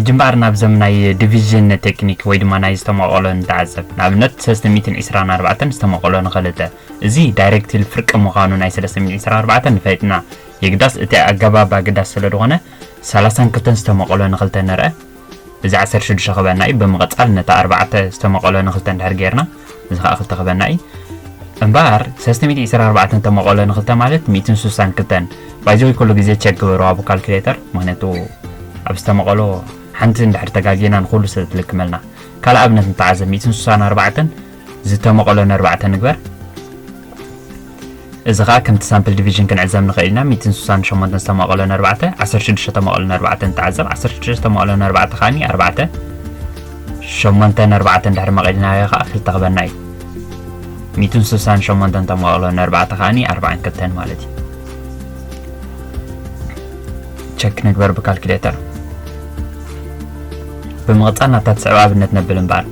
ሕጂ እምበኣር ናብዘም ናይ ዲቪዥን ቴክኒክ ወይ ድማ ናይ ዝተመቐሎ ንተዓዘብ ንኣብነት 324 ዝተመቐሎ ንኸልተ እዚ ዳይሬክትል ፍርቂ ምዃኑ ናይ 324 ንፈይጥና የግዳስ እቲ ኣገባብ ኣገዳሲ ስለ ዝኾነ 32 ዝተመቐሎ ንክልተ ንርአ እዚ ዓሰርተ ሽዱሽተ ክበና እዩ ብምቕጻል ነታ ኣርባዕተ ዝተመቐሎ ንክልተ እንድሕር ጌርና እዚ ከዓ ክልተ ክበና እዩ እምበኣር ሰለስተ ሚእቲ ዕስራ ኣርባዕተ ተመቐሎ ንክልተ ማለት ሚእትን ስሳን ክልተን ባይዘወይ ኩሉ ግዜ ቸክ ግበሩ ኣብ ካልኩሌተር ምክንያቱ ኣብ ዝተመቐሎ ሓንቲ እንድሕር ተጋጊና ንኩሉ ስለ ትልክመልና ካልእ ኣብነት ንተዓዘብ ሚእትን ስሳን ኣርባዕተን ዝተመቐሎ ን ኣርባዕተ ንግበር። እዚ ከኣ ከምቲ ሳምፕል ዲቪዥን ክንዕዘብ ንኽእል ኢና፣ ሚእትን ስሳን ሸሞንተን ዝተመቐሎ ን ኣርባዕተ፣ ዓሰርተ ሽዱሽተ ተመቐሎ ን ኣርባዕተ ንተዓዘብ፣ ዓሰርተ ሽዱሽተ ተመቐሎ ን ኣርባዕተ ከኣኒ ኣርባዕተ፣ ሸሞንተ ን ኣርባዕተ እንድሕሪ መቒልናዮ ከኣ ክልተ ክበና እዩ። ሚእትን ስሳን ሸሞንተን ተመቐሎ ን ኣርባዕተ ከኣኒ ኣርባዓን ክልተን ማለት እዩ። ቸክ ንግበር ብካልኩሌተር። ብምቕጻል ናብታ ትስዕብ ኣብነት ነብል እምበኣር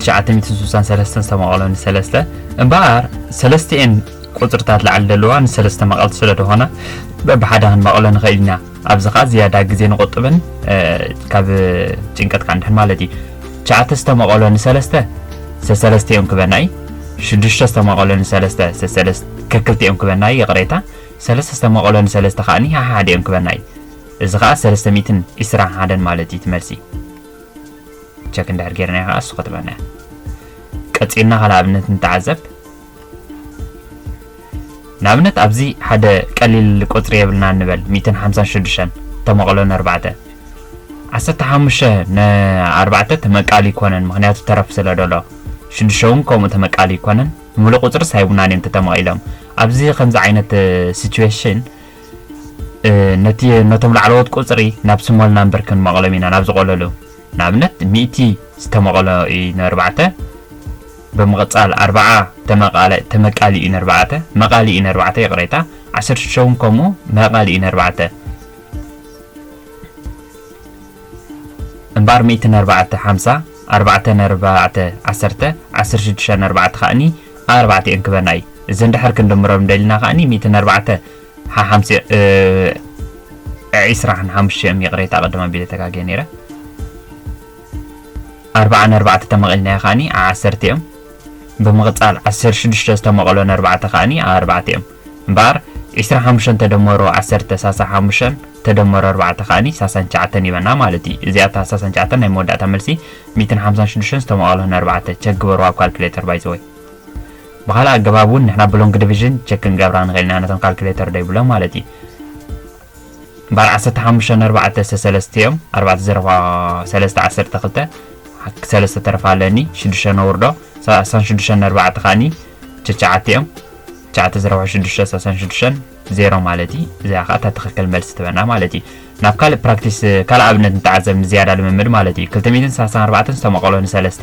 963 ዝተመቐሎ ንሰለስተ እምበኣር ሰለስቲኤን ቁፅርታት ላዕሊ ዘለዋ ንሰለስተ መቐልቲ ስለ ዝኾና በብሓደ ክንመቐሎ ንኽእል ኢና ኣብዚ ከዓ ዝያዳ ግዜ ንቆጥብን ካብ ጭንቀት ከዓ ንድሕን ማለት እዩ ትሽዓተ ዝተመቐሎ ንሰለስተ ሰሰለስቲኦም ክበና እዩ ሽዱሽተ ዝተመቐሎ ንሰለስተ ሰሰለስ ከክልቲኦም ክበና እዩ ይቕሬታ ሰለስተ ዝተመቐሎ ንሰለስተ ከዓኒ ሓሓደኦም ክበና እዩ እዚ ከዓ ሰለስተ ሚእትን ዒስራን ሓደን ማለት እዩ ትመልሲ ቸክ እንድሕር ጌርናዮ ከዓ እሱ ክትብለና እያ ቀፂልና ካልእ ኣብነት ንተዓዘብ ንኣብነት ኣብዚ ሓደ ቀሊል ቁፅሪ የብልና ንበል 156 ተመቕሎ ንኣርባዕተ ዓሰርተ ሓሙሽተ ንኣርባዕተ ተመቃሊ ይኮነን ምክንያቱ ተረፍ ስለ ደሎ ሽዱሽተ እውን ከምኡ ተመቃሊ ይኮነን ሙሉእ ቁፅርስ ሃይቡናን እዮም ተተመቒሎም ኣብዚ ከምዚ ዓይነት ሲትዌሽን ነቲ ነቶም ላዕለዎት ቁጽሪ ናብ ስሞልና እምበር ክንመቐሎም ኢና ናብ ዝቖለሉ ንኣብነት ሚእቲ ዝተመቐሎ እዩ ነርባዕተ ብምቕጻል ኣርባዓ ተመቃሊ እዩ ነርባዕተ መቃሊ እዩ ነርባዕተ ይቕሬታ ዓሰርተ ሽዱሽተ እውን ከምኡ መቃሊ እዩ ነርባዕተ እምበኣር ሚእቲ ነርባዕተ ሓምሳ ኣርባዕተ ነርባዕተ ዓሰርተ ዓሰርተ ሽዱሽተ ነርባዕተ ከኣኒ ኣርባዕተ እየን ክበና እዩ እዚ እንድሕር ክንድምሮም ደሊና ከዓኒ ሚእትን ኣርባዕተ ሓሓምሲ ዒስራን ሓሙሽተ እዮም ይቕሬታ ቅድም ኣቢለ ተጋግየ ነይረ ኣርባዓን ኣርባዕተ ተመቒልናዮ ከዓኒ ዓሰርተ እዮም ብምቕፃል ዓሰርተ ሽዱሽተ ዝተመቐሎን ኣርባዕተ ከዓኒ ኣርባዕተ እዮም እምበኣር ዕስራን ሓሙሽተን ተደመሩ ዓሰርተ ሳሳ ሓሙሽተን ተደመሩ ኣርባዕተ ከኣኒ ሳሳን ትሽዓተን ይበና ማለት እዩ። እዚኣ እታ ሳሳን ትሽዓተን ናይ መወዳእታ መልሲ ሚእትን ሓምሳን ሽዱሽተን ዝተመቓቕሎ ንኣርባዕተ ቸክ ግበርዋ ኣብ ካልኩሌተር ባይዘወይ። ብኻልእ ኣገባብ እውን ንሕና ብሎንግ ዲቪዥን ቸክ ክንገብራ ንኽእል ኢና ነቶም ካልኩሌተር ደይብሎም ማለት እዩ። ባር ዓሰርተ ሓሙሽተ ን ኣርባዕተ ሰሰለስተ እዮም ኣርባዕተ ዘረባ ሰለስተ ዓሰርተ ክልተ ሰለስተ ተረፋ ኣለኒ ሽዱሽተ ነውርዶ ሳሳን ሽዱሽተ ን ኣርባዕተ ከዓኒ ትሽዓተ እዮም ትሽዓተ ዘረባ ሽዱሽተ ሳሳን ሽዱሽተን ዜሮ ማለት እዩ እዚኣ ከዓ እታ ትኽክል መልሲ ትበና ማለት እዩ ናብ ካልእ ፕራክቲስ ካልእ ኣብነት ንተዓዘብ ንዝያዳ ልምምድ ማለት እዩ ክልተ ሚእትን ሳሳን ኣርባዕተን ዝተመቐሎ ንሰለስተ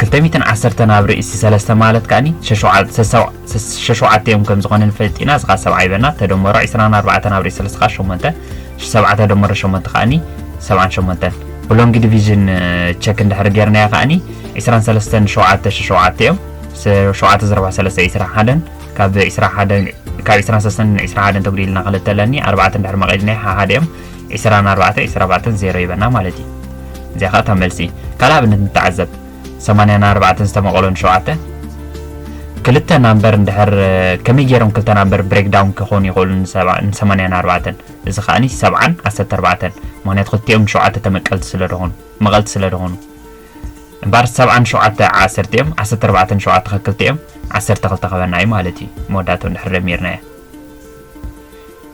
ክልተ ሚእትን ዓሰርተን ኣብ ርእሲ ሰለስተ ማለት ከኣኒ ሸሸውዓ- ሰሰው- ሰስ- ሸሸውዓተ እዮም ከም ዝኾነ ንፈልጥ ኢና። እዚ ከኣ ሰብዓይ በና ተደመሮ ዒስራን ኣርባዕተን ኣብ ርእሲ ሰለስተ ከኣ ሸሞንተ ሽ- ሰብዓ ተደመሮ ሸሞንተ ከኣኒ ሰብዓን ሸሞንተን ብሎንጊ ዲቪዥን ቸክ እንድሕሪ ጌርናዮ ከኣኒ ዒስራን ሰለስተን ሸውዓተ ሸሸውዓተ እዮም ስ- ሸውዓተ ዘረባ ሰለስተ ዒስራን ሓደን ካብ ዒስራን ሓደን ካብ ዒስራን ሰለስተን ዒስራን ሓደን ተጉዲልና ክልተ ኣለኒ ኣርባዕተ እንድሕሪ መቒልና ሓሓደ እዮም ዒስራ ን ኣርባዕተ ዒስራ ኣርባዕተን ዜሮ ይበና ማለት እዩ እዚኣ ከኣ እታ መልሲ ካልእ ኣብነት ንተዓዘብ ሰማንያ ን ኣርባዕተን ዝተመቐሎ ን ሸውዓተ ክልተ ናምበር እንድሕር ከመይ ገይሮም ክልተ ናምበር ብሬክ ዳውን ክኾኑ ይኽእሉ ንሰማንያ ን ኣርባዕተን እዚ ከኣኒ ሰብዓን ዓሰርተ ኣርባዕተን ምክንያቱ ክልቲኦም ንሸውዓተ ተመቀልቲ ስለ ዝኾኑ መቐልቲ ስለ ዝኾኑ እምበር ሰብዓን ሸውዓተ ዓሰርተ እዮም ዓሰርተ ኣርባዕተን ሸውዓተ ከክልተ እዮም ዓሰርተ ክልተ ክበና እዩ ማለት እዩ መወዳእትኡ እንድሕር ደሚርናዮ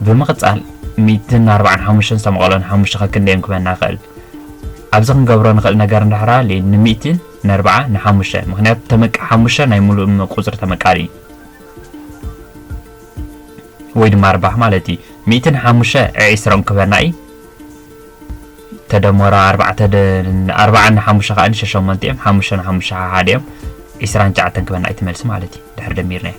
ብምቕጻል ሚእትን ኣርብዓን ሓሙሽተን ዝተመቐሎን ሓሙሽተ ከክንደዮም ክበና ይኽእል ኣብዚ ክንገብሮ ንኽእል ነገር እንድሕር ሃልዩ ንሚእቲ ነርብዓ ንሓሙሽተ ምክንያቱ ተመቃ ሓሙሽተ ናይ ሙሉእ ቁፅሪ ተመቃሊ እዩ ወይ ድማ ኣርባሕ ማለት እዩ ሚእቲ ንሓሙሽተ ዕዒስሮም ክበና እዩ ተደመሮ ኣርባዕተ ኣርባዓ ንሓሙሽተ ከዓ ንሸሸሞንተ እዮም ሓሙሽተ ንሓሙሽተ ሓሓደ እዮም ዒስራን ሸዓተን ክበና እዩ ትመልሲ ማለት እዩ ድሕር ደሚርና እዩ